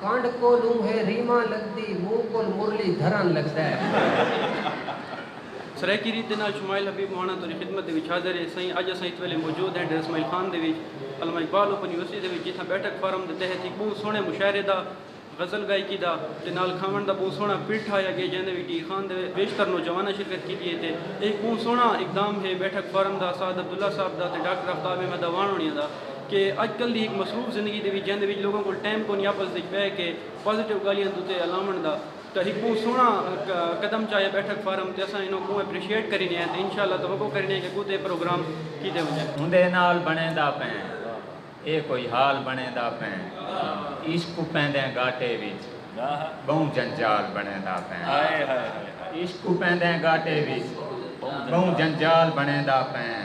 کانڈھ کولوں ہے ریماں لگدی منہ کول مرلی دھران لگدا ہے۔ سرائیکی ریت دے نال شمائل حبیب مہاݨاں تہاݙی خدمت دے وچ حاضر ہے سئیں اڄ اساں اس ویلے موجود ہیں ڈیرہ اسماعیل خان دے وچ علامہ اقبال اوپن یونیورسٹی دے وچ جتھاں بیٹھک فارم دے تحت ہک ٻہوں سوہݨے مشاعرے دا غزل ڳائیکی دا تے نال کھاوݨ دا ٻہوں سوہݨا پڑ ٹھاہیا ڳئے جیندے وچ ڈیہہ خان دے بیشتر نوجواناں شرکت کیتی ہے تے اے ہک ٻہوں سوہݨا اقدام ہے بیٹھک فارم دا اسعد عبداللہ صاحب دا تے ڈاکٹر آفتاب احمد اعوان ہوݨیاں دا کہ اڄ کل دی ہک مصروف زندگی دے وچ جیندے وچ لوکاں کول ٹائم کونی آپس وچ بہہ کے پازیٹیو گالھیاں دو تے الاونڑ دا تاں ہک بہوں سوہنڑا قدم چایا بیٹھک فارم تے اساں اینوں بہوں اپریشیٹ کرینے ہیں تے انشاءاللہ توقع کرینے ہیں کہ اگوں تے اے پروگرام کیتے ونجن۔ اوندے نال بنڑیندا پئیں اے کوئی حال بنڑیندا پئیں عشق اپیندیں گاٹے وچ بہوں جنجال بنڑیندا پئیں عشق اپیندیں گاٹے وچ بہوں جنجال بنڑیندا پئیں۔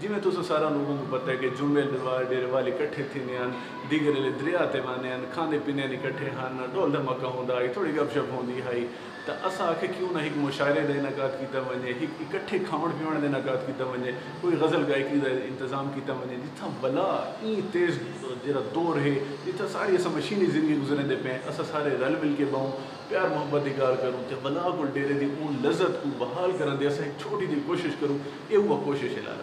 جیویں تساں سارا لوگوں کوں پتہ ہے کہ جمعے دے وار ڈیرے والے کٹھے تھیندے ہن، دیگر ایلے دریا تے واندے ہن، کھاندے پیندے ہن اکٹھے ہن، ڈول دھماکہ ہوندا ہئی، تھوڑی گپ شپ ہوندی ہئی تاں اساں آکھیا کیوں نہ ہک مشاعرے دا انعقاد کیتا ونجے، ہک اکٹھے کھاوݨ پیوݨ دا انعقاد کیتا ونجے، کوئی غزل گائیکی دا انتظام کیتا ونجے جتھاں بلا ایں تیز جیرھا دور ہے جتھاں سارے اساں مشینی زندگی گزریندے پئیں اساں سارے رل مل کے بہوں، پیار محبت دی گالھ کروں تے بلا کول ڈیرے دی اوں لذت کوں بحال کرݨ دی اساں ہک چھوٹی جیہی کوشش کروں اے اوہا کوشش ہے لالا۔